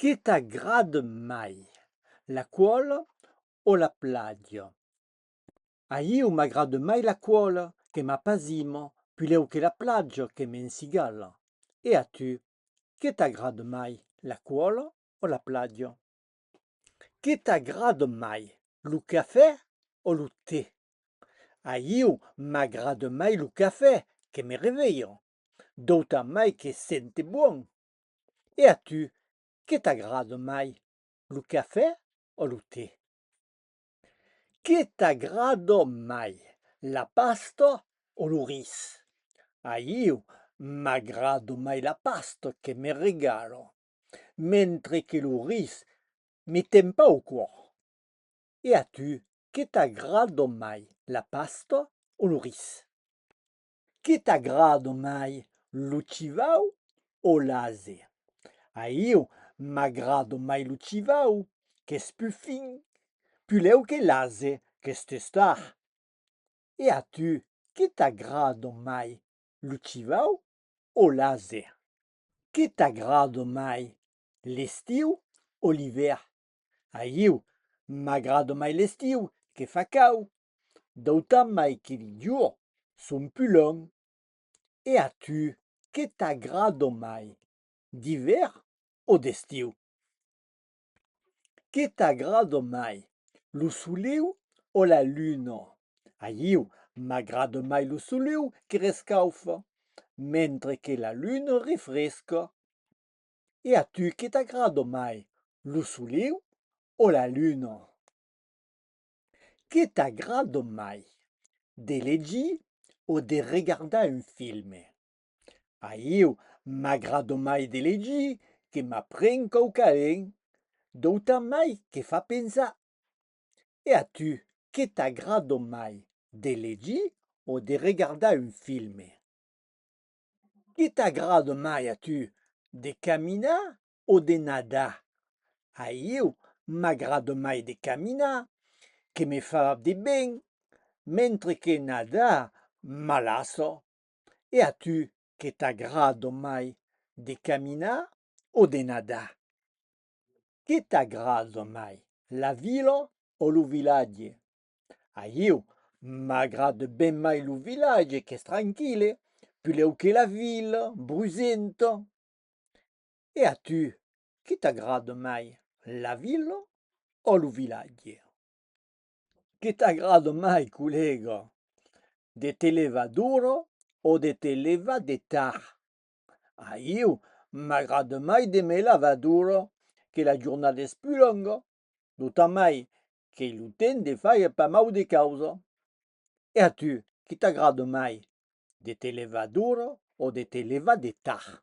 Que t'agrad mai, la cuol o la plaja? A iu m'agrad mai la cuol, que m'apasimo, pulèu que la plaja, que m'ensigala. E a tu? Que t'agrad mai, la cuol o la plaja? Que t'agrad mai, lo cafè o lo te? A iu m'agrad mai lo cafè, que me revelha, d'auta mai que sente bon, E a tu, qué t'agrada mai, lo cafè o lo te? Qué t'agrada mai, la pasta o lo ris? A iu m'agrada mai la pasta que me regala, mentre que lo ris me tempa o còr. E a tu, qué t'agrada mai, la pasta o lo ris? Que t'agrado mai, lo chivau o l'ase? A iu m'agrado mai lo chivau, qu'es pus fin, pus lèu que l'ase, qu'es testard. E a tu, que t'agrado mai, lo chivau o l'ase? Que t'agrado mai, l'estiu o l'ivèrn? Ahiu m'agrada mai l'estiu que fa cau, d'autant mai que li jorns son pus longs. E a tu, que t'agrada mai, d'ivèrn o d'estiu? Que t'agrada mai, lo soleu o la luna? Ahiu m'agrada mai lo soleu que rescaufa, mentre que la luna refresca. E a tu que t'agrado mai, lo soleu o la luna? Que t'agrado mai, de legir o de regardar un filme? A ieu m'agrado mai de legir que m'apren quauquaren d'auta mai que fa pensar. E a tu que t'agrado mai, de legir o de regardar un filme? Que t'agrada mai a tu, de caminar o de nadar? A ieu m'agrada mai de caminar, que me fa de ben, mentre que nadar m'alassa. E a tu, que t'agrada mai, de caminar o de nadar? Que t'agrada mai, la vila o lo vilatge? Ahiu, m'agrade ben mai lo vilatge qu'es tranquille, pulèu que la vila, brusenta. E a tu, qué t'agrade mai, la vila o lo vilatge? Qué t'agrade mai, collèga, de te levar d'ora o de te levar de tard? Ahiu, m'agrade mai de me levar d'ora, que la jornada es pus longa, d'autant mai qu'ei lo temps de faire pas mau de causa. E a tu, que t'agrada mai, de te levar d'ora o de te levar de tard?